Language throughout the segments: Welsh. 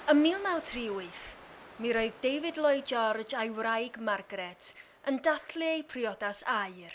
Ym 1938, mi roedd David Lloyd George a'i wraig Margaret yn dathlu eu priodas aur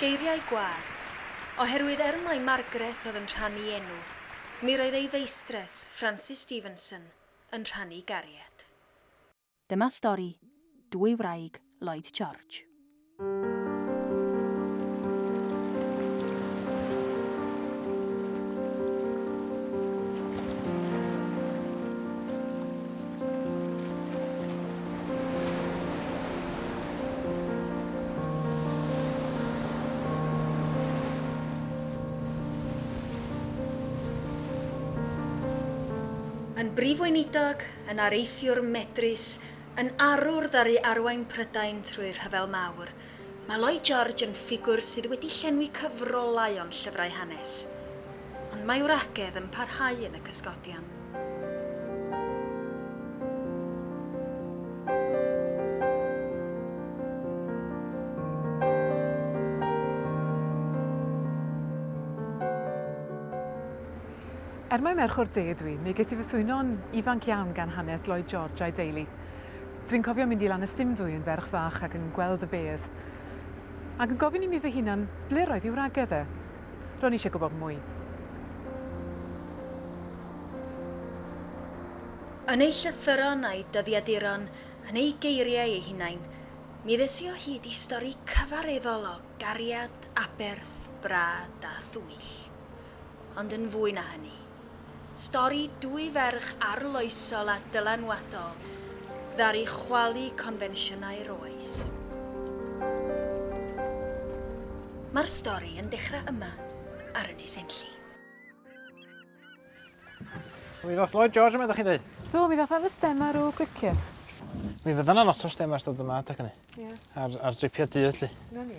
Geiriau gwag. Oherwydd er mai Margaret oedd yn rhannu enw, mi roedd ei feistres, Francis Stevenson, yn rhannu gariad. Dyma stori dwy wraig Lloyd George. Yn Brif Weinidog, yn areithiwr medrus, yn arwr ddaru arwain Prydain trwy'r Rhyfel Mawr, Mae Lloyd George yn ffigwr sydd wedi llenwi cyfrolau o'n llyfrau hanes, ond mae wragedd yn parhau yn y cysgodion. Er mai merch o'r de ydw i, mi ges i fy swyno'n ifanc iawn gan hanes Lloyd George a'i deulu. Dwi'n cofio mynd i Lanystumdwy yn ferch fach ac yn gweld y bedd, ac yn gofyn i mi fy hunan ble roedd i wragedd e. Ro'n i eisiau gwybod mwy. Yn ei llythyron a'i dyddiaduron, yn ei geiriau ei hunain, mi ddes i o hyd i stori cyfareddol o gariad, aberth, brad a thwyll. Ond yn fwy na hynny. Stori dwy ferch arloesol a dylanwadol ddaru chwalu confensiynau'r oes. Mae'r stori yn dechrau yma ar Ynys Enlli. Mi ddoth Lloyd George yma, ydych chi'n dweud? Do, mi ddoth am y stem ar ôl gwicir. Mi fydda na lot o stem ar stod yma adeg hynny. Ie. Ar, ar dripio dydd, lly. Na ni.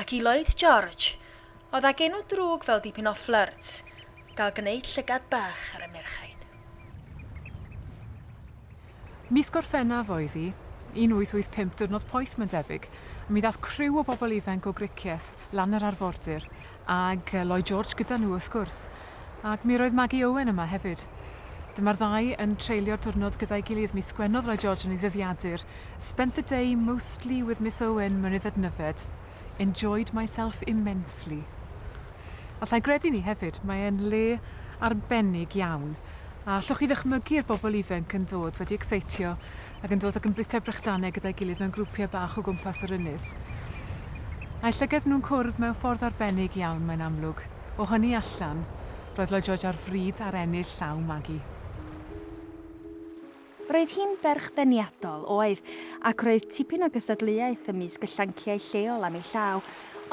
Ac i Lloyd George, oedd ag enw drwg fel dipyn o flirt, gael gwneud llygad bach ar y merchaid. Mis Gorffennaf oedd hi, 1885 diwrnod poeth mae'n debyg, mi ddaeth criw o bobl ifainc o Gricieth lan yr arfordir, ag Lloyd George gyda nhw wrth gwrs. Ac mi roedd Maggie Owen yma hefyd. Dyma'r ddau yn treulio diwrnod gyda'i gilydd mis Gwener Roy George yn ei ddyddiadur Spent the day mostly with Miss Owen Mynydd Adnyfed Enjoyed myself immensely Alla i gredu 'ny hefyd, mae e'n le arbennig iawn a allwch chi ddychmygu'r bobl ifenc yn dod wedi ecseitio ac yn dod ac yn bwyta'i brechdanau gyda'i gilydd mewn grwpiau bach o gwmpas yr ynys a'i llyged nhw'n cwrdd mewn ffordd arbennig iawn mae'n amlwg. O hynny allan, roedd Lloyd George ar fryd ar ennill llaw Maggie. Roedd hi'n ferch deniadol, oedd, ac roedd tipyn o gystadleuaeth ymysg y llanciau lleol am ei llaw,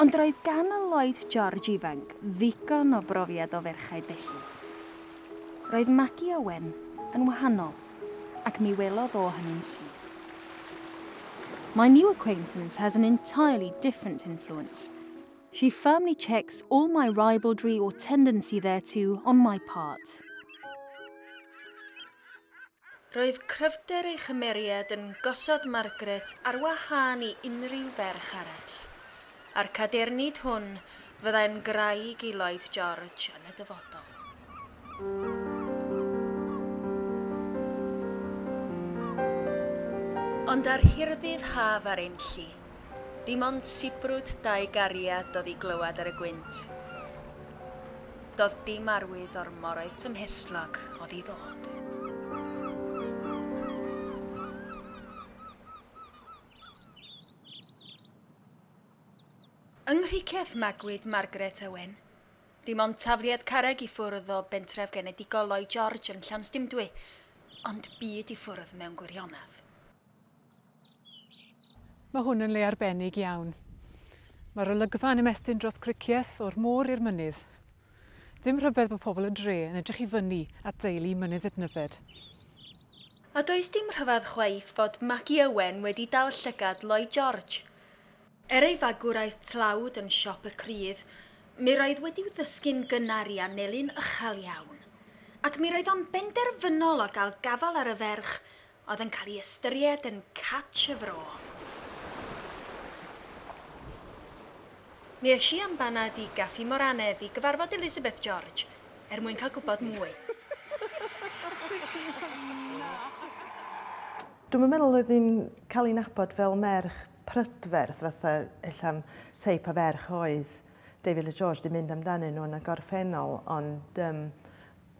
ond roedd gan y Lloyd George ifanc ddigon o brofiad o ferchaid felly. Roedd Maggie Owen yn wahanol, ac mi welodd o hynny'n syth. My new acquaintance has an entirely different influence. She firmly checks all my ribaldry or tendency thereto on my part. Roedd cryfder ei chymeriad yn gosod Margaret ar wahân i unrhyw ferch arall. A'r cadernid hwn fyddai'n graig i Lloyd George yn y dyfodol. Ond ar hirddydd haf ar Enlli, Dim ond sibrwd dau gariad do'dd i glywad ar y gwynt. Do'dd dim arwydd o'r moroedd tymhestlog o'dd i ddod. Yng Nghricieth magwyd Margaret Owen. Dim ond tafliad carreg i ffwrdd o bentref genedigol Lloyd George yn Llanystumdwy, ond byd i ffwrdd mewn gwirionedd. Mae hwn yn le arbennig iawn. Mae'r olygfa yn ymestyn dros Cricieth o'r môr i'r mynydd. Dim rhyfedd bod pobl y dre yn edrych i fyny at deulu Mynydd Idnyfed. A does dim rhyfedd chwaith fod Magi Owen wedi dal llygad Lloyd George. Er ei fagwraeth tlawd yn siop y crydd, mi roedd wedi'w ddysgu'n gynnar i anelu'n uchel iawn. Ac mi roedd o'n benderfynol o gael gafael ar y ferch oedd yn cael ei ystyried yn catch y fro. Mi es i am banad i Gaffi Moranedd i gyfarfod Elizabeth George er mwyn cael gwybod mwy. Dwi'm yn meddwl oedd hi'n cael ei nabod fel merch prydferth fatha ella'r teip o ferch oedd David Lloyd George 'di mynd amdanyn nhw yn y gorffennol ond yym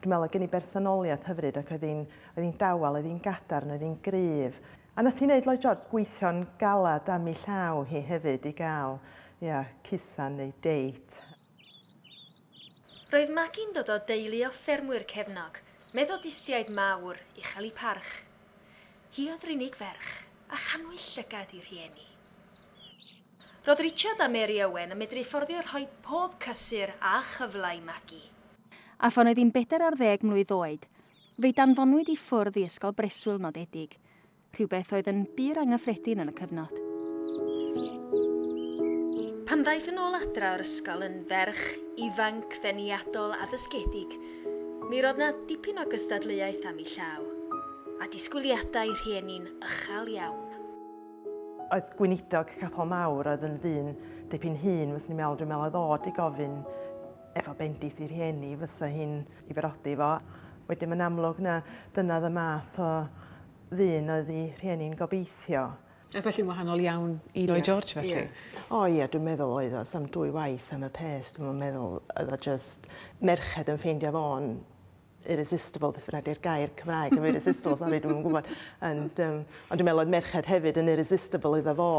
Dwi'n meddwl oedd gen i bersonoliaeth hyfryd ac oedd hi'n oedd hi'n dawel, oedd hi'n gadarn, oedd hi'n gryf. A nath hi wneud Lloyd George gweithio'n galad am ei llaw hi hefyd i gael, ia, cusan neu date. Roedd Magi'n dod o deulu o ffermwyr cefnog, Methodistiaid mawr, uchel i parch. Hi oedd yr unig ferch, a chanwyd llygad i rhieni. Roedd Richard a Mary Owen yn medru fforddio rhoi pob cysur a chyfle i Magi. A phan oedd hi'n bedair ar ddeg mlwydd oed, fe'i danfonwyd i ffwrdd i ysgol breswyl nodedig, rhywbeth oedd yn bur anghyffredin yn y cyfnod. Pan ddaeth yn ôl adra o'r ysgol yn ferch ifanc ddeniadol addysgedig, mi roedd 'na dipyn o gystadleuaeth am 'i llaw, a disgwyliadau rhieni'n uchel iawn. Oedd gweinidog capel mawr, oedd yn ddyn dipyn hŷn, fyswn i'n meddwl, dwi'n meddwl oedd o 'di gofyn efo bendith i rhieni fysa hi'n i berodi fo. Wedyn mae'n amlwg na dyna oedd y math o ddyn oedd i rhieni'n gobeithio. A felly'n wahanol iawn i Lloyd George felly? Ie. O ie dwi'n meddwl oedd o, sa'm dwy waith am y peth dwi'm yn meddwl oedd o jyst merched yn ffeindio fo'n irresistible, beth bynnag di'r gair Cymraeg am irresistible, sori, dwi'n gwybod. And, um, ond dwi'n meddwl oedd merched hefyd yn irresistible iddo fo.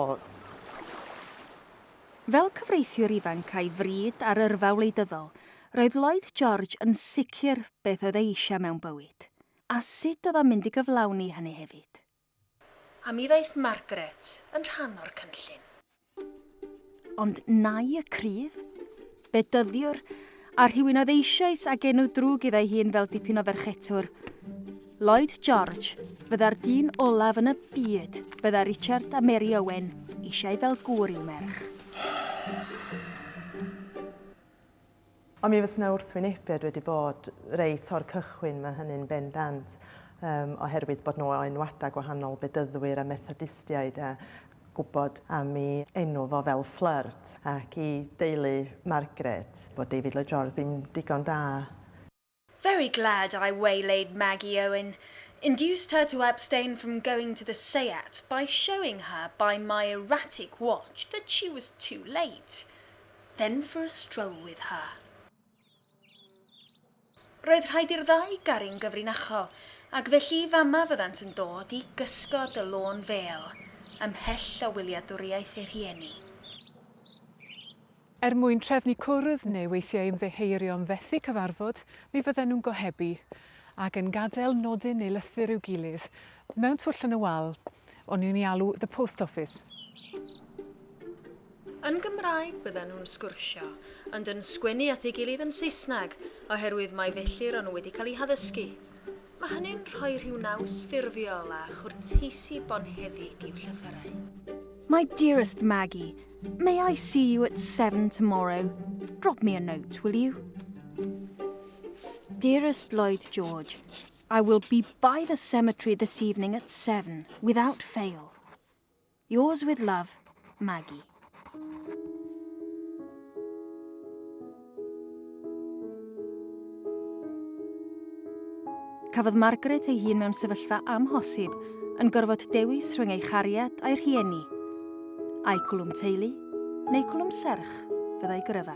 Fel cyfreithiwr ifanc a'i fryd ar yrfa wleidyddol, roedd Lloyd George yn sicr beth oedd e eisiau mewn bywyd, a sut oedd o'n mynd i gyflawni hynny hefyd. A mi ddaeth Margaret yn rhan o'r cynllun. Ond nai y cryf? Bedyddiwr, a rhywun oedd eisioes ag enw drwg idda'i hun fel dipyn o ferchetwr. Lloyd George fydda'r dyn olaf yn y byd bydda Richard a Mary Owen eisiau fel gŵr i'w merch. Ond mi fysa 'na wrthwynebiad wedi bod reit o'r cychwyn, mae hynny'n bendant, um, oherwydd bod nhw o enwadau gwahanol, Bedyddwyr a Methodistiaid, a gwybod am i enw fo fel Flirt ac i deulu Margaret, bod David Lloyd George ddim digon da. Very glad I waylaid Maggie Owen, induced her to abstain from going to the Seiat by showing her by my erratic watch that she was too late. Then for a stroll with her. Roedd rhaid i'r ddau garu'n gyfrinachol, ac felly fama fyddant yn dod i gysgod y lôn fêl, ymhell o wyliadwriaeth eu rhieni. Er mwyn trefnu cwrdd neu weithiau ymddiheurio am fethu cyfarfod, mi fydden nhw'n gohebu, ac yn gadael nodyn neu lythyr i'w gilydd, mewn twll yn y wal, o'n i'n ei alw 'The Post Office'. Yn Gymraeg bydden nhw'n sgwrsio, ond yn sgwennu at ei gilydd yn Saesneg, oherwydd mai felly ro'n nhw wedi cael eu haddysgu. Mae hynny'n rhoi rhyw naws ffurfiol a chwrteisi bonheddig i'w llythyrau. My dearest Maggie, May I see you at seven tomorrow? Drop me a note, will you? Dearest Lloyd George, I will be by the cemetery this evening at seven, without fail. Yours with love, Maggie. Cafodd Margaret ei hun mewn sefyllfa amhosib, yn gorfod dewis rhwng ei chariad a'i rhieni. Ai cwlwm teulu, neu cwlwm serch, fyddai gyrfa.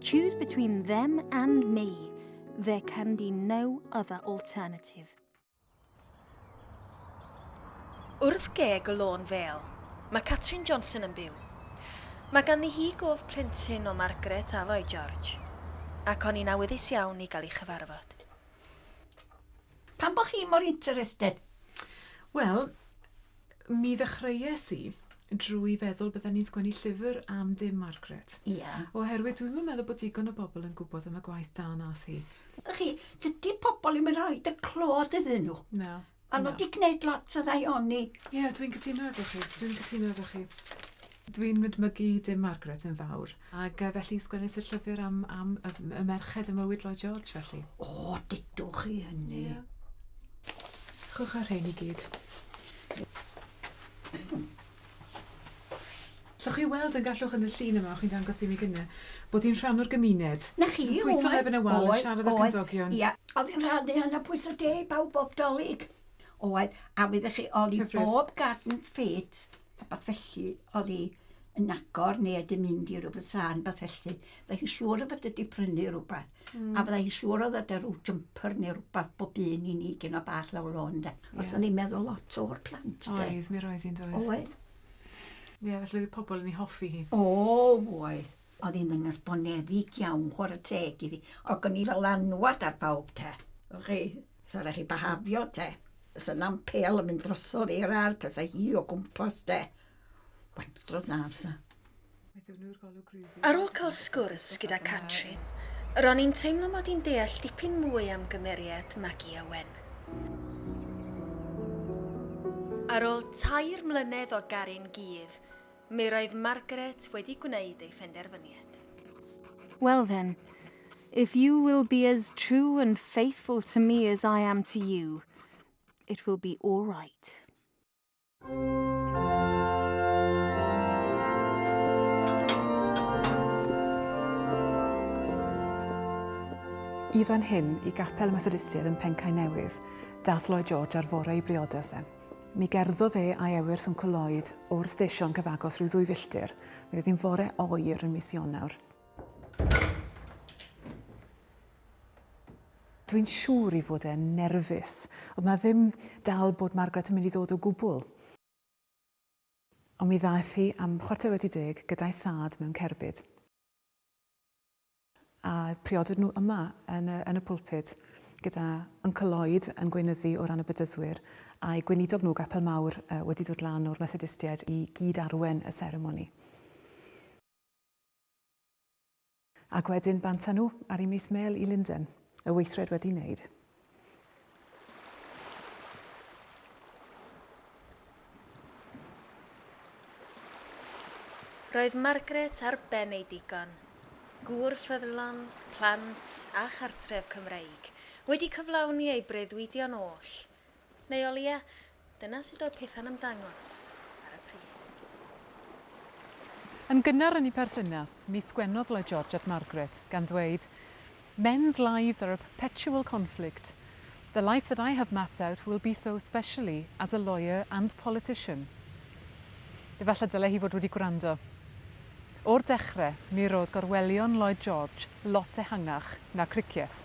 Choose between them and me. There can be no other alternative. Wrth geg y lôn fel, mae Catrin Johnson yn byw. Mae ganddi hi gof plentyn o Margaret a Lloyd George, ac o'n i'n awyddus iawn i gael ei chyfarfod. Pam bo chi mor interested? Wel, mi ddechreues i drwy feddwl bydden ni'n sgwennu llyfr am dim Margaret. Ia. Oherwydd dwi'm yn meddwl bod digon o bobl yn gwybod am y gwaith da nath hi. Ydych chi, dydy pobl ddim yn rhoi dy clod iddyn nhw. Na. A nhw wedi gwneud lot o ddaioni. Ie, dwi'n cytuno efo chi. Dwi'n cytuno efo chi. Dwi'n mydmygu dy Margaret yn fawr. Ac yy felly sgwennes i'r llyfr am am y m- y merched y mywyd Lloyd George felly. O, dudwch chi hynny. Ia. Chwch â'r rhein i gyd. Llwch chi weld yn gallwch yn y llun yma o' chi'n dangos i mi gynne bod hi'n rhan o'r gymuned. 'Na chi, oedd. Pwyso lefyn y wal yn siarad â'r cymdogion. Ia, oedd yn rhan o hynna pwyso deg bawb bob 'Dolig. Oedd, a wyddoch chi o'dd i bob garden fit Rhywbeth felly oedd hi yn agor neu oedd hi'n mynd i rywbeth sân, rhywbeth felly. Byddai hi'n siŵr o fod wedi prynu rhywbeth. Mm. A byddai hi'n siŵr o ddod â rhyw jumper neu rhywbeth bob un i ni gyn o bach lawr lôn, de. Yeah. Os o'n i'n meddwl lot o'r plant, de. Oedd, mi roedd hi'n dweud. Oedd. Ie, yeah, felly oedd pobl yn ei hoffi hi. O, oedd. Oedd hi'n ddynas boneddig iawn, chwarae teg iddi. Ac o'n i fel anwad ar bawb, te. O'ch chi? Sa raid chi byhafio te. Sa na'm pel yn mynd drosodd i'r ar, ta sa hi o gwmpas te. Wain dros na amser. Ar ôl cael sgwrs gyda Catrin, ro'n i'n teimlo mod i'n deall dipyn mwy am gymeriad Magi a Wen. Ar ôl tair mlynedd o garu'n gudd, Mi roedd Margaret wedi gwneud ei phenderfyniad. Well then, if you will be as true and faithful to me as I am to you, it will be all right. I fan hyn, i Gapel y Methodistiaid yn Pencae Newydd, daeth Lloyd George ar fore ei briodas e. Mi gerddodd e a'i ewyrth Wncwl Lloyd o'r stesion cyfagos rhyw ddwy filltir. Mi roedd hi'n fore oer yn mis Ionawr. Dwi'n siŵr i fod e'n nerfus. Oedd na ddim dal bod Margaret yn mynd i ddod o gwbl. Ond mi ddaeth hi am chwarter wedi deg gyda'i thad mewn cerbyd. A priodwyd nhw yma yn y, yn y pulpud, gyda Uncle Lloyd yn gweinyddu o ran y Bedyddwyr, a'i gweinidog nhw, Gapel Mawr, uh, wedi dod lan o'r Methodistiaid i gyd-arwen y seremoni. Ac wedyn banta nhw ar ei mis mêl i Linden, y weithred wedi wneud. Roedd Margaret ar ben ei digon, gŵr ffyddlon, plant a chartref Cymreig, wedi cyflawni ei breuddwydion oll. Neu o leia, Dyna sut oedd pethau'n ymddangos ar y pryd. Yn gynnar yn eu perthynas, mi sgwennodd Lloyd George at Margaret, gan ddweud, Men's lives are a perpetual conflict. The life that I have mapped out will be so especially as a lawyer and politician. Efallai dylai hi fod wedi gwrando. O'r dechre, mi roedd gorwelion Lloyd George lot ehangach na Cricieth.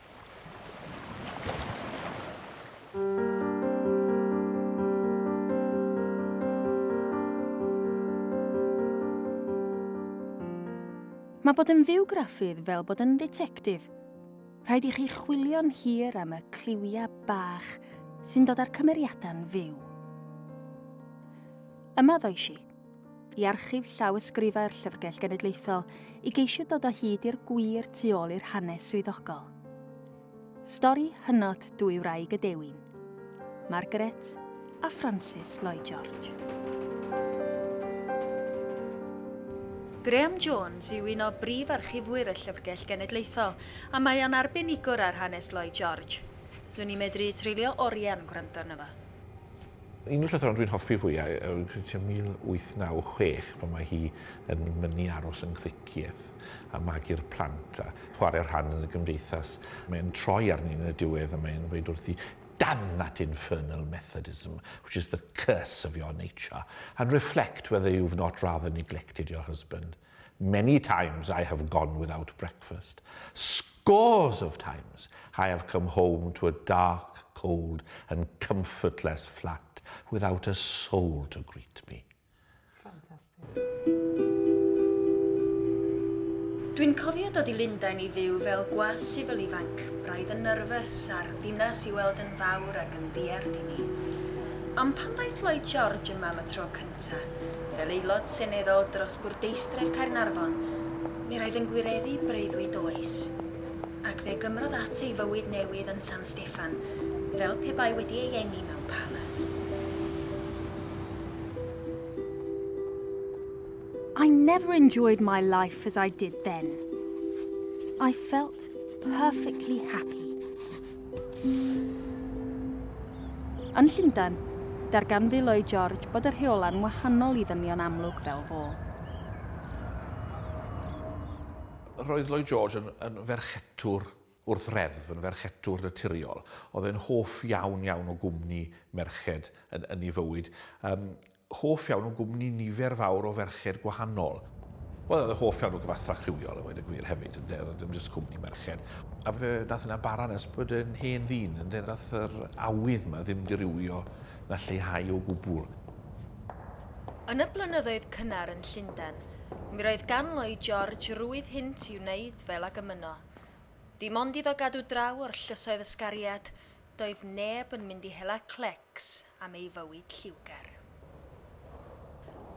Mae bod yn fywgraffydd fel bod yn ddetectif. Rhaid i chi chwilio'n hir am y cliwiau bach sy'n dod â'r cymeriadau'n fyw. Yma ddoes i. i Archif Llawysgrifau'r Llyfrgell Genedlaethol i geisio dod o hyd i'r gwir tu ôl i'r hanes swyddogol. Stori hynod dwy wraig y dewin, Margaret a Francis Lloyd George. Graham Jones yw un o brif archifwyr y Llyfrgell Genedlaethol a mae o'n arbenigwr ar hanes Lloyd George. Swn i'n medru treulio oriau'n gwrando arno fo. Un o'r llythrau'n dwi'n hoffi fwyaf yw'r Griciau 1896, pan mae hi yn mynnu aros yn Nghricieth a magu'r plant a chwarae rhan yn y gymdeithas. Mae'n troi arni yn y diwedd a mae'n dweud wrthi, Damn that infernal Methodism, which is the curse of your nature, and reflect whether you've not rather neglected your husband. Many times I have gone without breakfast. Scores of times I have come home to a dark, cold and comfortless flat without a soul to greet me. Dwi'n cofio dod i Lundain i fyw fel gwas sifil ifanc, braidd yn nyrfys, a'r ddinas i weld yn fawr ac yn ddiarth i mi. Ond pan ddaeth Lloyd George yma am y tro cyntaf, Eto, fel Aelod Seneddol dros Bwrdeistref Caernarfon, mi roedd yn gwireddu breuddwyd oes. Ac fe gymrodd at ei fywyd newydd yn San Steffan, fel pe bai wedi ei eni mewn palas. I never enjoyed my life as I did then. I felt perfectly happy. Yn Llundain, darganfu Lloyd George bod y rheola'n wahanol i ddynion amlwg fel fo. Roedd Lloyd George yn, yn ferchetwr wrth reddf, yn ferchetwr naturiol. Oedd e'n hoff iawn iawn o gwmni merched yn, yn ei fywyd. Um, Hoff iawn o gwmni nifer fawr o ferched gwahanol. Wel, oedd yn hoff iawn o gyfathrach rhywiol a weud y gwir hefyd, ynde, oedd dim jyst cwmni merched. A fe nath hynna bara nes bod yn hen ddyn, ynde, nath yr awydd yma ddim dirywio na lleihau o gwbl. Yn y blynyddoedd cynnar yn Llundain, mi roedd gan Lloyd George rwydd hynt i wneud fel ag ymyno. Dim ond iddo gadw draw o'r llysoedd ysgariad, doedd neb yn mynd i hela clecs am ei fywyd lliwgar.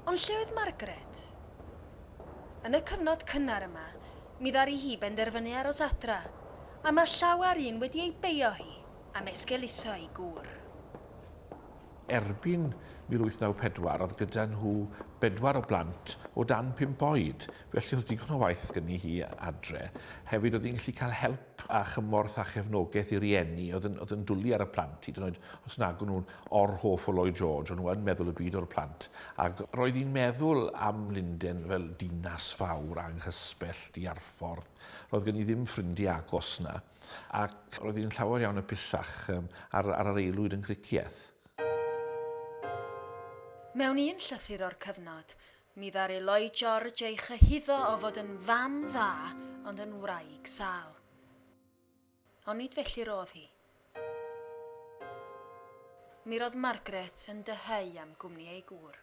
Ond lle oedd Margaret? Yn y cyfnod cynnar yma, mi ddaru hi benderfynu aros adra, a mae llawer un wedi ei beio hi am esgeuluso ei gŵr. Erbyn 1894, oedd gyda nhw bedwar o blant o dan pump oed, Felly oedd digon o waith gen i hi adre. Hefyd oedd hi'n gallu cael help a chymorth a chefnogaeth i rieni oedd yn, oedd yn dwlu ar y plant, hyd yn oed os nag o'n nhw'n or-hoff o Lloyd George, o'n nhw yn meddwl y byd o'r plant. Ac roedd hi'n meddwl am Lunden fel dinas fawr anghysbell di ar ffordd. Roedd gen i ddim ffrindiau agos na, ac roedd hi'n llawer iawn y pisach um, ar, ar yr aelwyd yn Gricieth. Mewn un llythyr o'r cyfnod, Mi ddaru Lloyd George ei chyhuddo o fod yn fam dda ond yn wraig sâl. Ond nid felly'r oedd hi. Mi roedd Margaret yn dyheu am gwmni ei gŵr.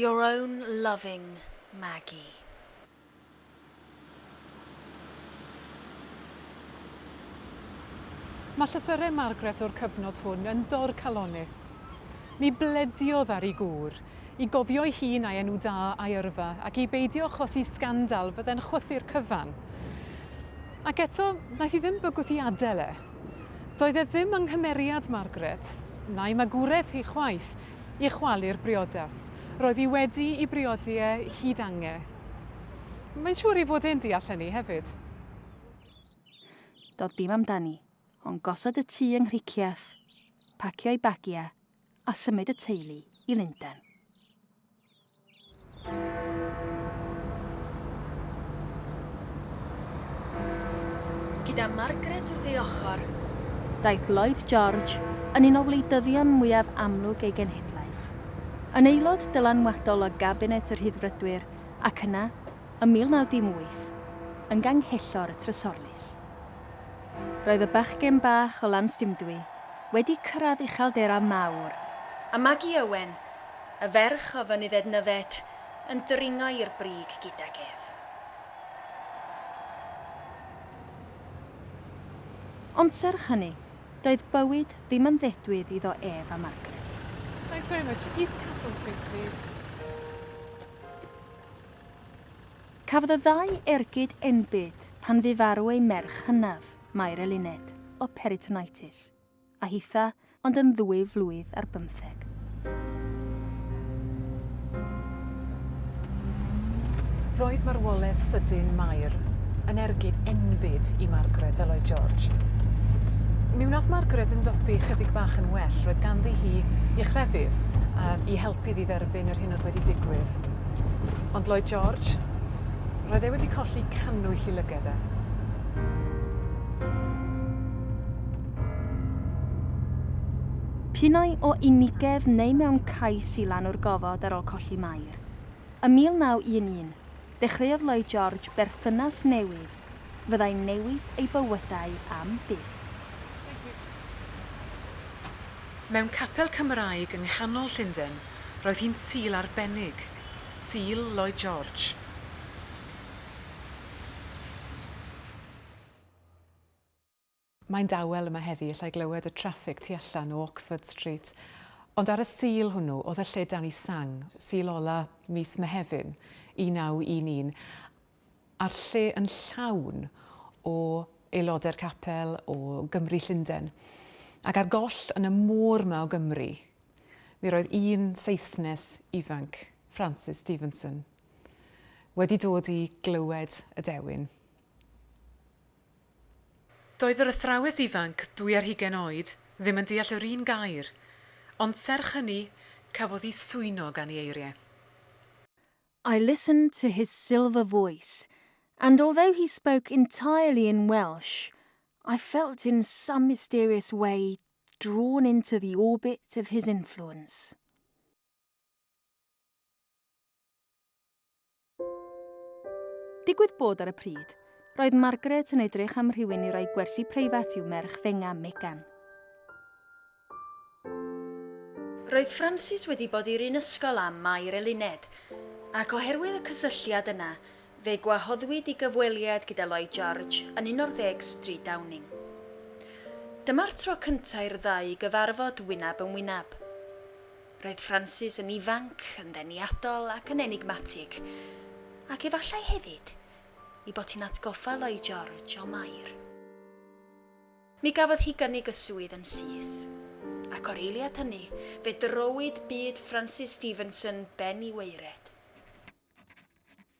Your own loving Maggie. Mae llythyrau Margaret o'r cyfnod hwn yn dorcalonnus. Ni blediodd ar ei gŵr i gofio'i hun a'i enw da a'i yrfa ac i beidio achosi sgandal fydde'n chwythu'r cyfan. Ac eto, wnaeth hi ddim bygwth i adael e. Doedd e ddim yng nghymeriad Margaret, na'i magwraeth hi chwaith, i chwalu'r briodas. Roedd hi wedi i briodi e hyd ange. Mae'n siŵr i fod e'n deall hynny hefyd. Doedd dim amdani, ond gosod y tŷ yng Nghricieth, pacio'i bagiau a symud y teulu i Lundain. Gyda Margaret wrth ei ochr, ddaeth Lloyd George yn un o wleidyddion mwyaf amlwg ei genhedlaeth, yn aelod dylanwadol o Gabinet y Rhyddfrydwyr ac yna, ym 1918, yn Ganghellor y Trysorlys. Roedd y bachgen bach o Lanstumdwy wedi cyrraedd uchelderau mawr, a Maggie Owen, y ferch o Fynydd Ednyfed yn dringo i'r brig gydag ef. Ond serch hynny, doedd bywyd ddim yn ddedwydd iddo ef a Margaret. Thanks very much. East Castle Street, please. Cafodd y ddau ergyd enbyd pan fu farw eu merch hynaf, Mair Eluned, o peritonitis. a hitha ond yn ddwy flwydd ar bymtheg. Roedd marwoledd sydyn Mair yn ergyd enbyd i Margaret a Lloyd George. Mi wnaeth Margaret yn dopi chydig bach yn well, roedd ganddi hi i chrefydd a i helpu iddi dderbyn yr hyn oedd wedi digwydd. Ond Lloyd George, roedd e wedi colli cannwyll i lyged e. Pinnau o unigedd neu mewn cais i lanw'r gofod ar ôl colli Mair. Ym 1911, dechreuodd Lloyd George berthynas newydd fyddai'n newid eu bywydau am byth. Mewn capel Cymraeg yng nghanol Llundain, roedd hi'n Sul arbennig, Sul Lloyd George. Mae'n dawel yma heddi, allai glywed y traffig tu allan o Oxford Street. Ond ar y Sul hwnnw, oedd y lle dan i sang, Sul ola mis Mehefin 1911, a'r lle yn llawn o aelodau'r capel, o Gymry Llundain. Ac ar goll yn y môr ma o Gymry, mi roedd un Saesnes ifanc, Francis Stevenson, wedi dod i glywed y dewin. Doedd yr athrawes ifanc, dwy ar hugain oed, ddim yn deall yr un gair, ond serch hynny, cafodd hi swyno gan ei eiriau. I listened to his silver voice, and although he spoke entirely in Welsh, I felt in some mysterious way drawn into the orbit of his influence. Digwydd bod ar y pryd, roedd Margaret yn edrych am rhywun i roi gwersi preifat i'w merch fenga, Megan. Roedd Frances wedi bod i'r un ysgol â Mair Eluned, ac oherwydd y cysylltiad yna, fe gwahoddwyd i gyfweliad gyda Lloyd George yn 11 Stryd Downing. Dyma'r tro cyntaf i'r ddau gyfarfod wyneb yn wyneb. Roedd Francis yn ifanc, yn ddeniadol ac yn enigmatig, ac efallai hefyd ei bod hi'n atgoffa Lloyd George o Mair. Mi gafodd hi gynnig y swydd yn syth, ac o'r eiliad hynny fe drowyd byd Francis Stevenson ben i waered.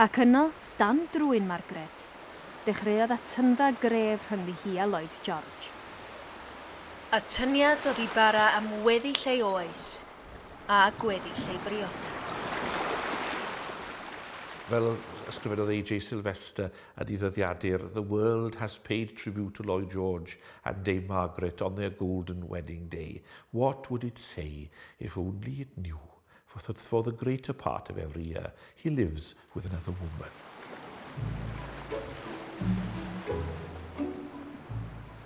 Ac yno, dan drwyn Margaret, dechreuodd atyngfa gref rhyngddi hi a Lloyd George. Atyniad oedd i bara am weddill ei oes, a gweddill ei briodas. Fel yr ysgrifennodd AJ Sylvester yn ei ddyddiadur, The world has paid tribute to Lloyd George and Dame Margaret on their golden wedding day. What would it say if only it knew? For that for the greater part of every year he lives with another woman.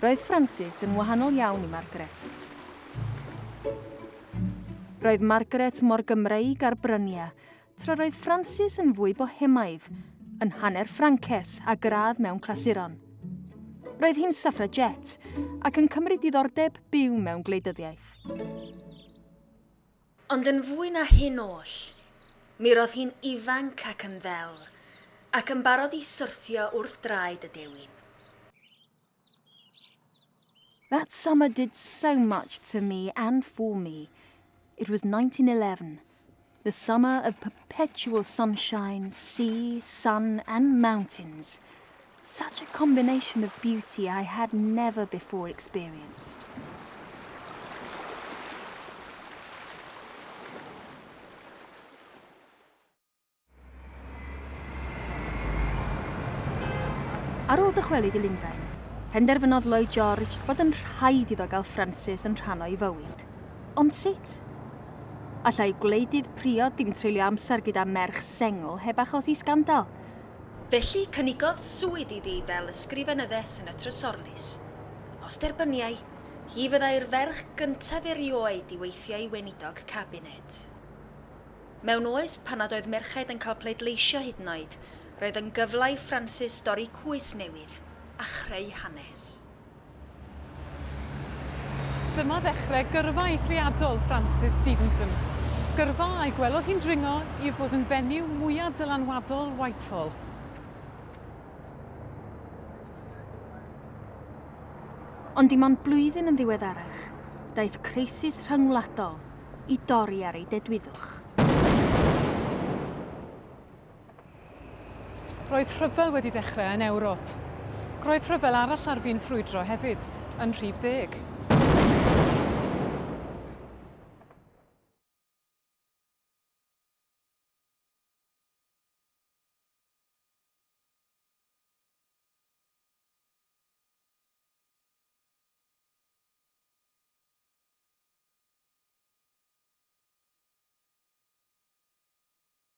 Roedd Francis yn wahanol iawn i Margaret. Roedd Margaret mor Gymreig ar brynia, tra roedd Francis yn fwy bohemaidd, yn hanner Ffrances a gradd mewn clasuron. Roedd hi'n suffragette ac yn cymryd diddordeb byw mewn gwleidyddiaeth. Ond yn fwy na hyn oll, mi ro'dd hi'n ifanc ac yn ddel, ac yn barod i syrthio wrth draed y dewin. That summer did so much to me and for me. It was nineteen eleven, the summer of perpetual sunshine, sea, sun and mountains. Such a combination of beauty I had never before experienced. Ar ôl dychwelyd i Lundain, penderfynodd Lloyd George bod yn rhaid iddo gael Frances yn rhan o'i fywyd. Ond sut? Allai gwleidydd priod ddim treulio amser gyda merch sengl heb achosi sgandal, Felly cynigodd swydd iddi fel ysgrifenyddes yn y Trysorlys. Os derbyniai, hi fyddai'r ferch gyntaf erioed i weithio i Weinidog Cabinet. Mewn oes pan nad oedd merched yn cael pleidleisio hyd yn oed, roedd yn gyfle i Frances dorri cwys newydd a chreu hanes. Dyma ddechrau gyrfa eithriadol Francis Stevenson, gyrfa a'i gwelodd hi'n dringo i fod yn fenyw mwyaf dylanwadol Whitehall. Ond dim ond blwyddyn yn ddiweddarach, daeth crisis rhyngwladol i dorri ar ei dedwyddwch. Roedd rhyfel wedi dechrau yn Ewrop. Roedd rhyfel arall ar fin ffrwydro hefyd, yn rhif deg.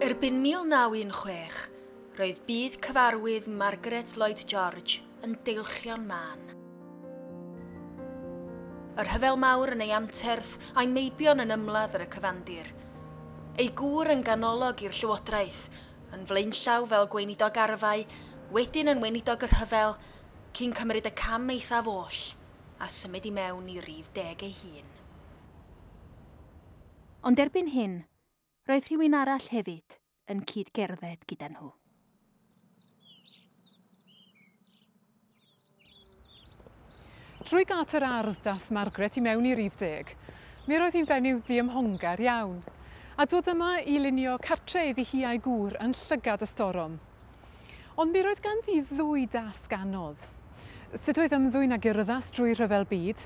Erbyn 1916, roedd byd cyfarwydd Margaret Lloyd George yn deilchion mân. Y Rhyfel Mawr yn ei anterth a'i meibion yn ymladd ar y cyfandir. Ei gŵr yn ganolog i'r llywodraeth, yn flaenllaw fel gweinidog arfau, wedyn yn weinidog y rhyfel, cyn cymryd y cam eithaf oll, a symud i mewn i rif deg ei hun. Ond erbyn hyn, roedd rhywun arall hefyd yn cyd-gerdded gyda nhw. Trwy gât yr ardd daeth Margaret i mewn i rif deg. Mir oedd hi'n fenyw ddiymhongar iawn. A dod yma i lunio cartre iddi hi a'i gŵr yn llygad y storom. Ond mi roedd ganddi ddwy dasg anodd. Sut oedd ymddwyn ag urddast drwy rhyfel byd,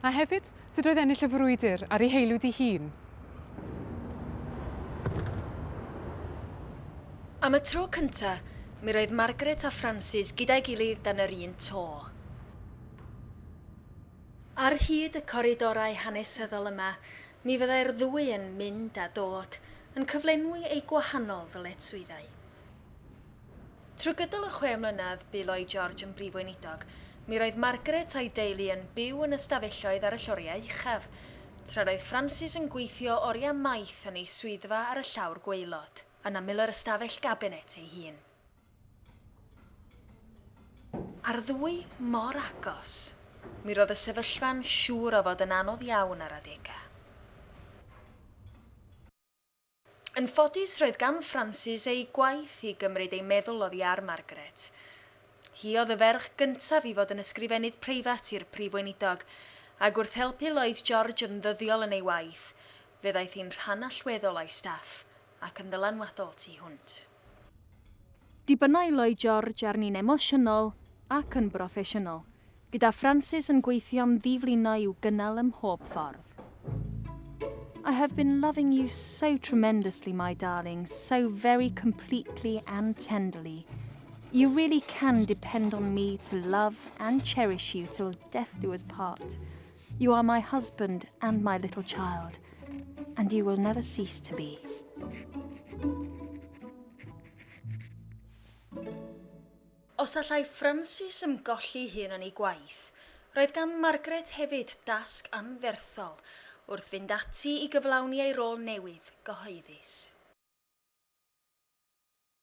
a hefyd, sut oedd ennill y frwydr ar ei heilw di hun. Am y tro cynta, mi roedd Margaret a Frances gyda'i gilydd dan yr un to. Ar hyd y coridorau hanesyddol yma, mi fyddai'r ddwy yn mynd a dod, yn cyflenwi eu gwahanol ddyletswyddau. Trwy gydol y chwe mlynedd bu Lloyd George yn Brif Weinidog, mi roedd Margaret a'i deulu yn byw yn ystafelloedd ar y lloriau uchaf, tra roedd Francis yn gweithio oriau maith yn ei swyddfa ar y llawr gwaelod, yn ymyl yr ystafell gabinet ei hun. A'r ddwy mor agos, mi roedd y sefyllfa'n siŵr o fod yn anodd iawn ar adegau. Yn ffodus roedd gan Francis ei gwaith i gymryd ei meddwl oddi ar Margaret. Hi oedd y ferch gyntaf i fod yn ysgrifennydd preifat i'r Prif Weinidog, ac wrth helpu Lloyd George yn ddyddiol yn ei waith, fe ddaeth hi'n rhan allweddol o'i staff, ac yn ddylanwadol tu hwnt. Dibynnai Lloyd George arni'n emosiynol ac yn broffesiynol, gyda Francis yn gweithio'n ddi-flino i'w gynnal ym mhob ffordd. I have been loving you so tremendously, my darling, so very completely and tenderly. You really can depend on me to love and cherish you till death do us part. You are my husband and my little child, and you will never cease to be. Os allai Francis ymgolli hun yn ei gwaith, roedd gan Margaret hefyd dasg anferthol wrth fynd ati i gyflawni ei rôl newydd gyhoeddus.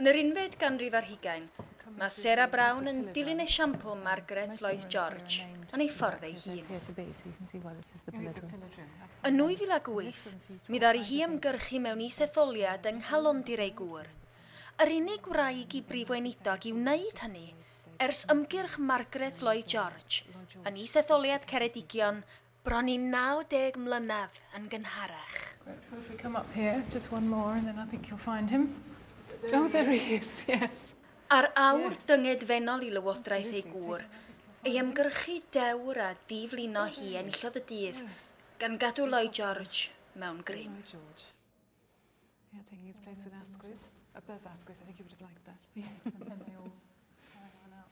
Yn yr unfed ganrif ar hugain, mae Sarah Brown yn dilyn esiampl Margaret Lloyd George yn ei ffordd ei hun. Yn 2008, mi ddari hi ymgyrchu mewn is-etholiad yng Nghalondir ei gŵr, yr unig wraig i Brif Weinidog i wneud hynny ers ymgyrch Margaret Lloyd George yn is-etholiad Ceredigion Bron i 90 mlynedd yn gynharach. Right, so if we come up here, just one more, and then I think you'll find him. Oh, there he is, yes. Ar awr dyngedfennol i lywodraeth ei gŵr, ei ymgyrchu dewr a diflino hi enillodd y dydd, gan gadw Lloyd George mewn grym. Yeah, taking his place with Asquith. Above Asquith, I think he would have liked that.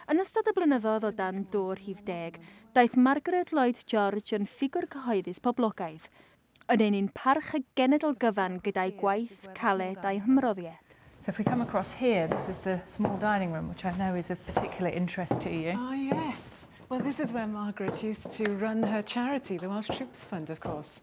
Yn ystod y blynyddoedd o dan dô'r rhif deg, daeth Margaret Lloyd George yn ffigwr cyhoeddus poblogaidd, yn ein un parch y genedl gyfan gyda'i gwaith caled a'i hymroddiad. So if we come across here, this is the small dining room, which I know is of particular interest to you. Ah, yes. Well, this is where Margaret used to run her charity, the Welsh Troops Fund, of course.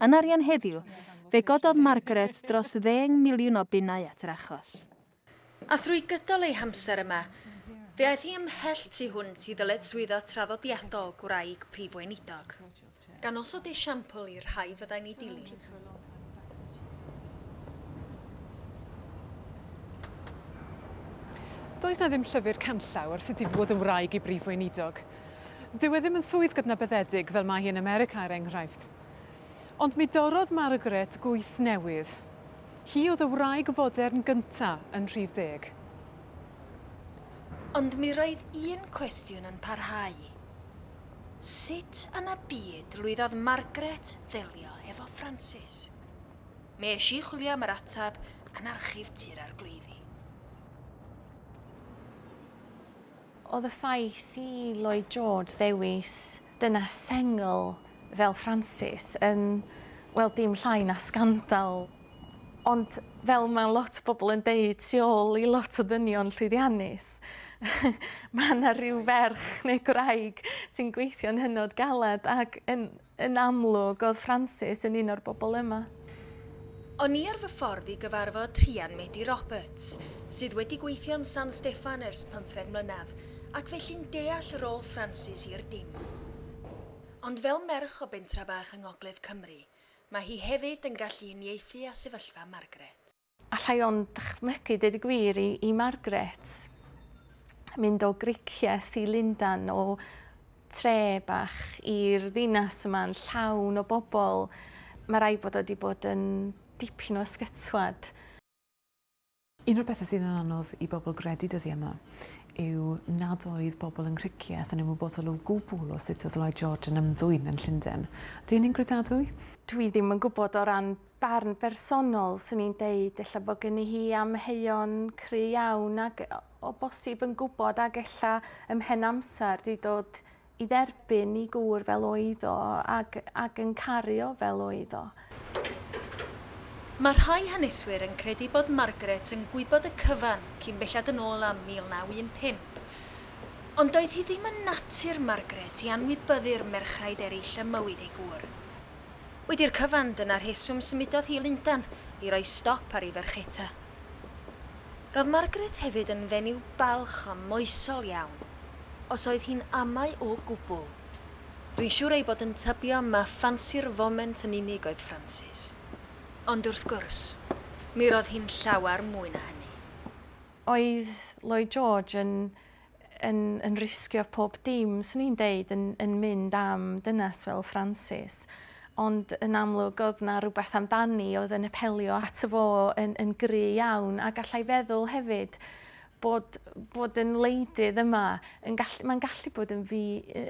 Yn arian heddiw, fe gododd Margaret dros ddeng miliwn o bunnau at yr achos. A thrwy gydol ei hamser yma, fe aeth hi ymhell tu hwnt i ddyletswyddau traddodiadol gwraig Prif Weinidog, gan osod esiampl i'r rhai fyddai'n ei dilyn. Does 'na ddim llyfr canllaw wrth y difod yn wraig i Brif Weinidog. Dyw e ddim yn swydd gydnabyddedig fel mae hi yn America, er enghraifft. Ond mi dorrodd Margaret gwys newydd. Hi oedd y wraig fodern gynta yn rhif deg. Ond mi roedd un cwestiwn yn parhau. Sut yn y byd lwyddodd Margaret ddelio hefo Francis? Mi es i chwilio am yr ateb yn archif Tŷ'r Arglwyddi. Oedd y ffaith i Lloyd George ddewis dynes sengl fel Francis yn, wel, dim llai na sgandal. Ond fel mae lot o bobl yn deud tu ôl i lot o ddynion llwyddiannus, mae yna rhyw ferch neu gwraig sy'n gweithio'n hynod galed ac yn Yn amlwg, oedd Frances yn un o'r bobl yma. O'n i ar fy ffordd i gyfarfod Rhian Medi Roberts, sydd wedi gweithio yn San Steffan ers pymtheg mlynedd, ac felly'n deall rôl Frances i'r dim. Ond fel merch o bentra bach yng ngogledd Cymru, mae hi hefyd yn gallu uniaethu â sefyllfa Margaret. Alla i ond dychmygu, deud y gwir, i, i Margaret mynd o Gricieth i Lundan, o tre bach i'r ddinas yma'n llawn o bobl. Mae rai bod o wedi bod yn dipyn o ysgytwad. Un o'r pethau sydd yn anodd i bobl gredu dyddiau yma yw nad oedd bobl yn Ngricieth yn ymwybodol o gwbl o sut oedd Lloyd George yn ymddwyn yn Llundain. Ydy hynny'n gredadwy? Dwi ddim yn gwybod o ran barn bersonol, swn i'n deud, ella bod gynni hi amheuon cry iawn ac o bosib yn gwybod ac ella ym mhen amser di dod i dderbyn i gŵr fel oedd o ac, ac yn caru o fel oedd o. Mae rhai haneswyr yn credu bod Margaret yn gwybod y cyfan cyn belled yn ôl â 1915. Ond doedd hi ddim yn natur Margaret i anwybyddu'r merchaid eraill ym mywyd ei gŵr. Wedi'r cyfan, dyna rheswm symudodd hi i Lundan i roi stop ar ei fercheta. Roedd Margaret hefyd yn fenyw balch a moesol iawn, os oedd hi'n amau o gwbl. Dwi'n siŵr ei bod yn tybio ma ffansi'r foment yn unig oedd Francis. Ond wrth gwrs, mi roedd hi'n llawer mwy na hynny. Oedd Lloyd George yn yn yn risgio pob dim swn i'n deud yn yn mynd am dynas fel Francis ond yn amlwg oedd 'na rhywbeth amdani oedd yn apelio ato fo yn yn gry iawn a gallai feddwl hefyd bod bod yn wleidydd yma yn gallu mae'n gallu bod yn fi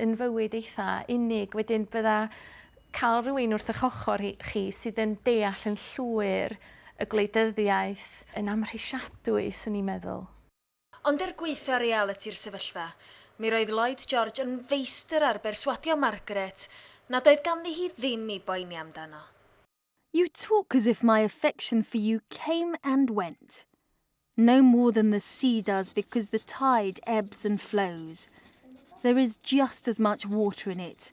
yn fywyd eitha unig wedyn bydda cael rhywun wrth eich ochr chi sydd yn deall yn llwyr y gwleidyddiaeth yn amhrisiadwy swn i'n meddwl. Ond er gwaetha' realiti'r sefyllfa, mi roedd Lloyd George yn feistr ar berswadio Margaret nad oedd ganddi hi ddim i boeni amdano. You talk as if my affection for you came and went. No more than the sea does because the tide ebbs and flows. There is just as much water in it.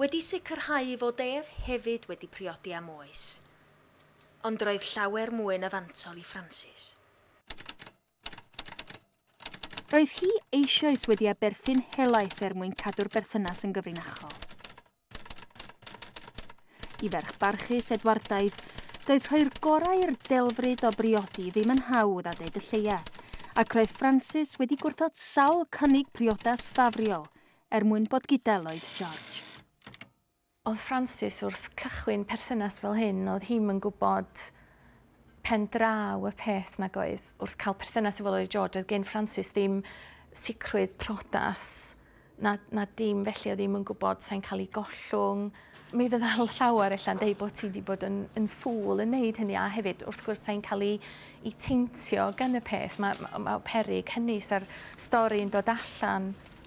wedi sicrhau fod ef hefyd wedi priodi am oes. Ond roedd llawer mwy na fantol i Francis. Roedd hi eisioes wedi aberthu'n helaeth er mwyn cadw'r berthynas yn gyfrinachol. I ferch barchus Edwardaidd, doedd rhoi'r gorau i'r delfryd o briodi ddim yn hawdd a deud y lleiaf, ac roedd Francis wedi gwrthod sawl cynnig priodas ffafriol, er mwyn bod gyda Lloyd George. Oedd Francis wrth cychwyn perthynas fel hyn, oedd hi'm yn gwybod pen draw y peth nag oedd wrth cael perthynas efo Lloyd George, oedd gen Francis ddim sicrwydd prodas na, na dim felly, oedd hi'm yn gwybod sa'n cael ei gollwng. Mi fydda llawer ella'n deud bod ti wedi bod yn, yn ffŵl yn neud hynny a hefyd wrth gwrs sa'n cael ei, ei teintio gan y peth. Mae ma, ma perig hynny sa'r stori yn dod allan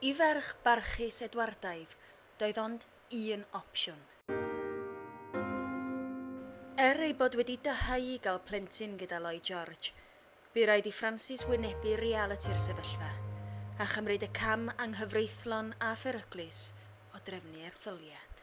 I ferch barchus Edwardaidd doedd ond un opsiwn. Er ei bod wedi dyheu i gael plentyn gyda Lloyd George, bu raid i Francis wynebu realiti'r sefyllfa a chymryd y cam anghyfreithlon a pheryglus o drefnu erthyliad.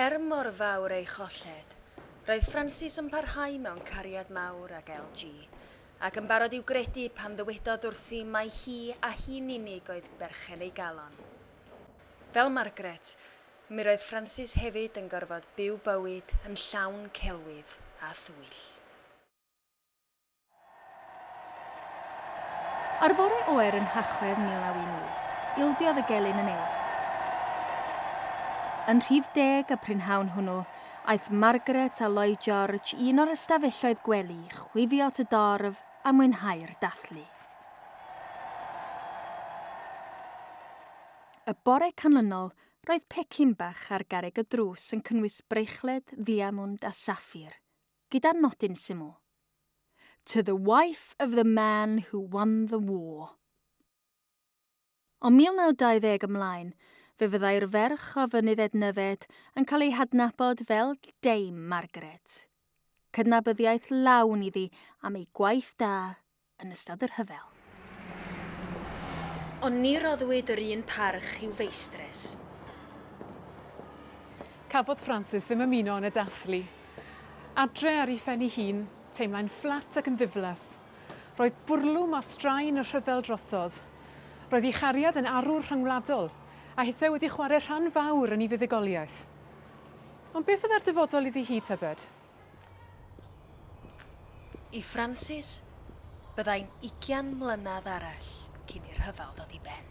Er mor fawr ei cholled, roedd Francis yn parhau mewn cariad mawr ag LG, ac yn barod i'w gredu pan ddywedodd wrthi mai hi a hi'n unig oedd berchen ei galon. Fel Margaret, mi roedd Francis hefyd yn gorfod byw bywyd yn llawn celwydd a thwyll. Ar fore oer yn Nhachwedd 1918, ildiodd y gelyn yn ei. Yn rhif deg y prynhawn hwnnw, aeth Margaret a Lloyd George i un o'r ystafelloedd gwely i chwifio at y dorf a mwynhau'r dathlu. Y bore canlynol, roedd pecyn bach ar garreg y drws yn cynnwys bracelet ddiamwnd a saffir, gyda nodyn syml, To the wife of the man who won the war. O 1920 ymlaen, fe fyddai'r ferch o Fynydd Ednyfed yn cael ei hadnabod fel Dame Margaret. Cydnabyddiaeth lawn iddi am ei gwaith da yn ystod y rhyfel. Ond ni roddwyd yr un parch i'w feistres. Cafodd Frances ddim ymuno yn y dathlu. Adre ar ei phen ei hun, teimlai'n fflat ac yn ddiflas. Roedd bwrlwm a straen y rhyfel drosodd. Roedd ei chariad yn arwr rhyngwladol, a hithau wedi chwarae rhan fawr yn ei fuddugoliaeth. Ond beth fydda'r dyfodol iddi hi, tybed? I Francis, byddai'n ugian mlynedd arall cyn i'r rhyfel ddod i ben.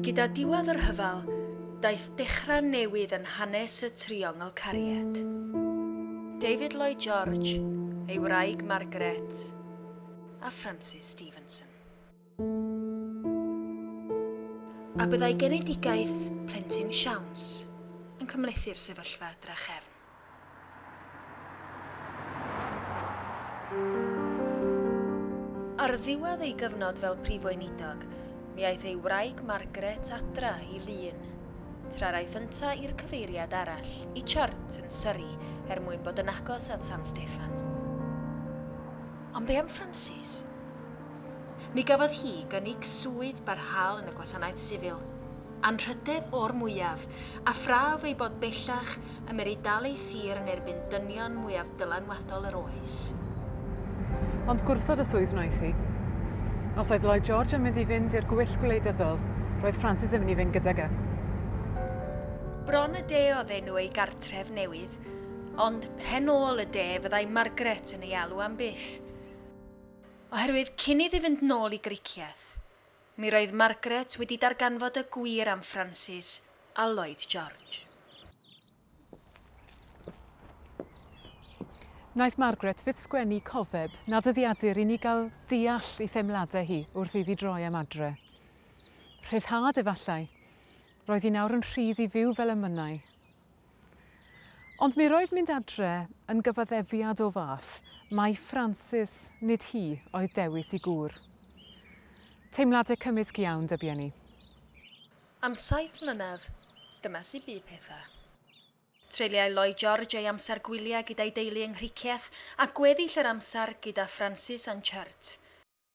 Gyda diwedd y rhyfel, daeth dechrau newydd yn hanes y Triongl Cariad. David Lloyd George, ei wraig Margaret, a Francis Stevenson. A byddai genedigaeth plentyn siawns yn cymhlethu'r sefyllfa drachefn. Ar ddiwedd ei gyfnod fel Prif Weinidog, mi aeth ei wraig Margaret adra i Lŷn, tra'r aeth yntau i'r cyfeiriad arall, i Churt, yn Surrey, er mwyn bod yn agos at San Steffan. Ond be am Frances? Mi gafodd hi gynnig swydd barhaol yn y gwasanaeth sifil, anrhydedd o'r mwyaf, a phraf ei bod bellach yn mynd i dal ei thir yn erbyn dynion mwyaf dylanwadol yr oes. Ond gwrthod y swydd wnaeth hi. Os oedd Lloyd George yn mynd i fynd i'r gwyll gwleidyddol, roedd Francis yn mynd i fynd gydag e. Bron y de oedd enw ei gartref newydd, ond pen ôl y de fyddai Margaret yn ei alw am byth. Oherwydd cyn iddi fynd nôl i gricieth, Mi roedd Margaret wedi darganfod y gwir am Francis a Lloyd George. Wnaeth Margaret fyth sgwennu cofeb na dyddiadur i ni gael deall ei theimladau hi wrth iddi droi am adre. Rhyddhad efallai. Roedd hi nawr yn rhydd i fyw fel y mynnai. Ond mi roedd mynd adre yn gyfaddefiad o fath mai Francis, nid hi, oedd dewis i gŵr. Teimlade cymysg iawn dyby â ni. Am saith mlynedd, dyma sut bu pethau. Treuliai Lloyd George ei amser gwyliau gyda'i deulu yng Nghricieth a gweddill yr amser gyda Francis a'n Churt.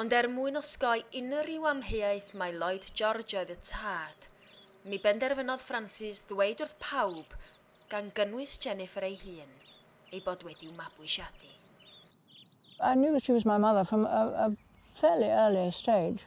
Ond er mwyn osgoi unrhyw amheuaeth mai Lloyd George oedd y tad, mi benderfynodd Francis ddweud wrth pawb, gan gynnwys Jennifer ei hun, ei bod wedi'w mabwysiadu. I knew she was my mother from a fairly early stage.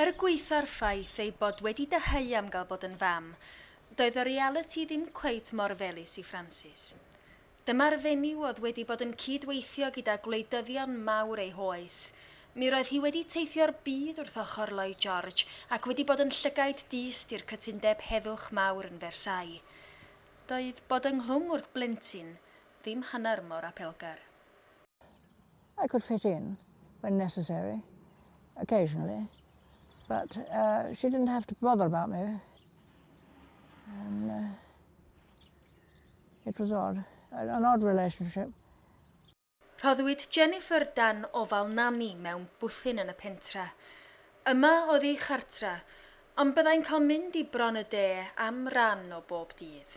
Er gwaetha'r ffaith ei bod wedi dyheu am gael bod yn fam, doedd y realiti ddim cweit mor felys i Frances. Dyma'r fenyw oedd wedi bod yn cyd-weithio gyda gwleidyddion mawr ei hoes. Mi roedd hi wedi teithio'r byd wrth ochr Lloyd George ac wedi bod yn llygaid dyst i'r cytundeb heddwch mawr yn Versailles. Doedd bod ynghlwm wrth blentyn ddim hanner mor apelgar. I could fit in when necessary, occasionally, but uh, she didn't have to bother about me. And, uh, it was odd, an odd relationship. Rhoddwyd Jennifer dan ofal nani mewn bwthyn yn y pentre. Yma oedd ei chartre, ond byddai'n cael mynd i bron y de am ran o bob dydd.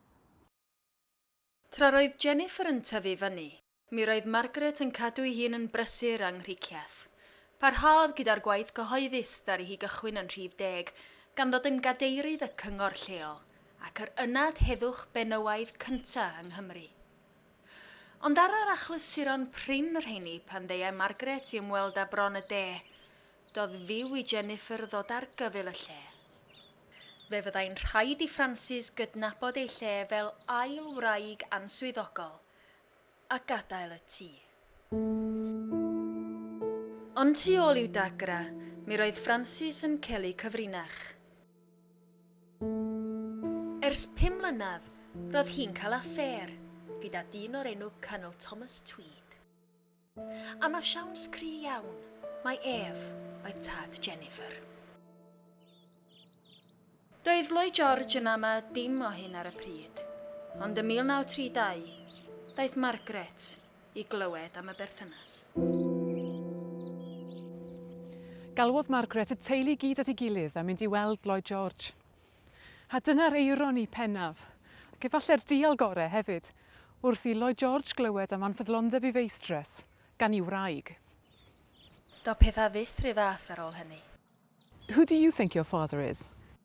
Tra roedd Jennifer yn tyfu fyny, mi roedd Margaret yn cadw'i hun yn brysur a nghricieth. Parhaodd gyda'r gwaith cyhoeddus ddaru hi gychwyn yn rhif deg, gan ddod yn gadeirydd y cyngor lleol, ac yr ynad heddwch benywaidd cynta' yng Nghymru. Ond ar yr achlysuron prin y rheini, pan ddeuai Margaret i ymweld â Bron y De, doedd fyw i Jennifer ddod ar gyfyl y lle. Fe fyddai'n rhaid i Frances gydnabod ei lle fel ail wraig answyddogol a gadael y tŷ. Ond tu ôl i'w dagrau, mi roedd Frances yn celu cyfrinach. Ers pum mlynedd, roedd hi'n cael affêr gyda dyn o'r enw Colonel Thomas Tweed. Am y siawns cry iawn, mai ef oedd tad Jennifer. Doedd Lloyd George yn ama dim o hyn ar y pryd, ond ym 1932, daeth Margaret, i glywed am y berthynas. Galwodd Margaret y teulu i gyd at ei gilydd a mynd i weld Lloyd George. A dyna'r eironi pennaf, ac efallai'r dial gorau hefyd, wrth i Lloyd George glywed am anfyddlondeb ei feistres gan ei wraig. Doedd pethau fyth rhy fath ar ôl hynny. Who do you think your father is?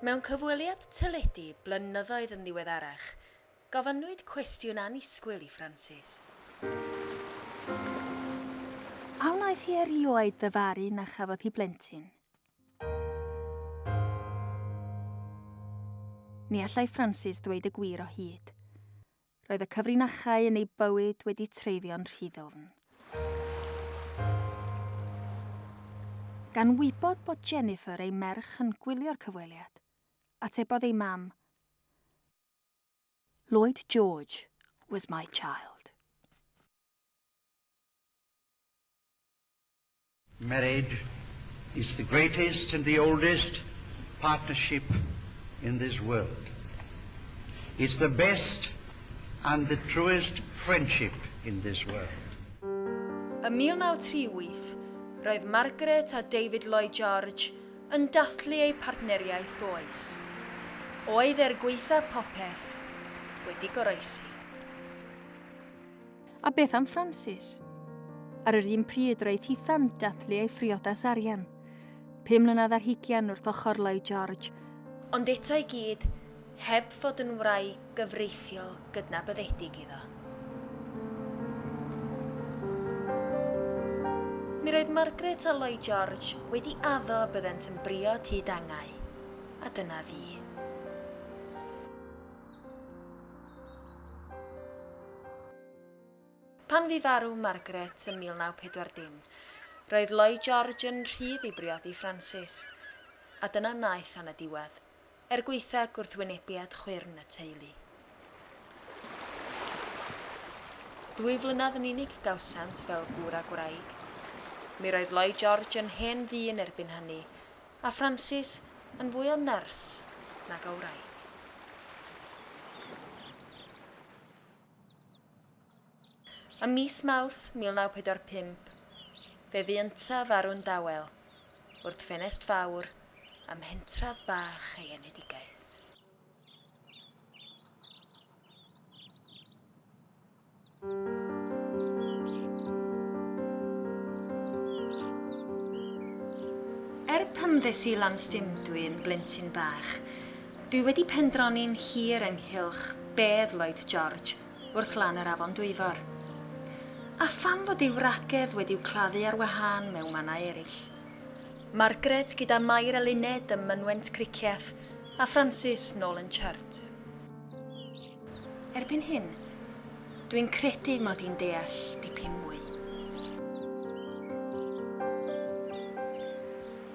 Mewn cyfweliad teledu blynyddoedd yn ddiweddarach, gofynnwyd cwestiwn annisgwyl i Francis. A wnaeth hi erioed ddyfaru na chafodd hi blentyn? Ni allai Francis ddweud y gwir o hyd. Roedd y cyfrinachau yn ei bywyd wedi treiddio'n rhy ddwfn. Gan wybod bod Jennifer, ei merch, yn gwylio'r cyfweliad, atebodd ei mam, Lloyd George was my child. Marriage is the greatest and the oldest partnership in this world. It's the best and the truest friendship in this world. Ym 1938, roedd Margaret a David Lloyd George yn dathlu eu partneriaeth oes. Oedd er gwaetha' popeth wedi goroesi. A beth am Francis? Ar yr un pryd roedd Hithan dathlu ei phriodas arian. Pum mlynedd ar hugian wrth ochr Lloyd George. Ond eto i gyd heb fod yn wraig gyfreithiol gydnabyddedig iddo. Mi roedd Margaret a Lloyd George wedi addo y byddent yn briod hyd angau. A dyna fi. Pan fu farw Margaret ym 1940, roedd Lloyd George yn rhydd i briodi Francis, a dyna wnaeth tan y diwedd, er gwaetha gwrthwynebiad chwyrn y teulu. Dwy flynedd yn unig y gawsant fel gŵr a gwraig. Mi roedd Lloyd George yn hen ddyn erbyn hynny, A Francis yn fwy o nyrs nag o wraig. Ym mis Mawrth 1945, fe fu yntau farw'n dawel wrth ffenest fawr ym mhentref bach ei enedigaeth. Er pan ddes i lan stimdwy yn blentyn bach, dwi wedi pendroni'n hir ynghylch bedd Lloyd George wrth lan yr afon Dwyfor. A pham fod ei wragedd wedi'w claddu ar wahân mewn mannau eraill. Margaret gyda Mair Eluned ym mynwent Cricieth A Francis nôl yn Church. Erbyn hyn, dwi'n credu mod i'n deall dipyn mwy.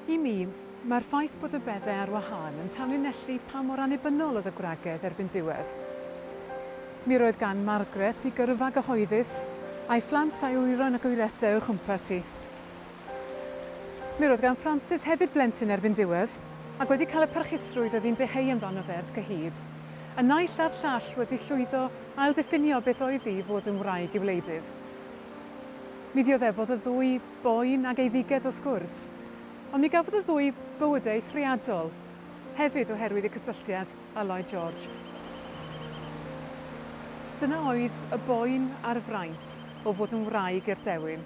I mi, mae'r ffaith bod y bedde ar wahân yn tanlinellu pa mor annibynnol oedd y gwragedd erbyn diwedd. Mi roedd gan Margaret ei gyrfa gyhoeddus, a'i phlant a'i wyron ac o'i resau o'i chwmpas hi. Mi roedd gan Francis hefyd blentyn erbyn diwedd, ac wedi cael y parchusrwydd oedd hi'n deheu amdano fe ers cyhyd. Y naill a'r llall wedi llwyddo ailddiffinio beth oedd hi i fod yn wraig i wleidydd. Mi ddioddefodd y ddwy boen ag eiddigedd wrth gwrs, ond mi gafodd y ddwy bywydau eithriadol hefyd oherwydd eu cysylltiad â Lloyd George. Dyna oedd y boen a'r fraint o fod yn wraig i'r dewin.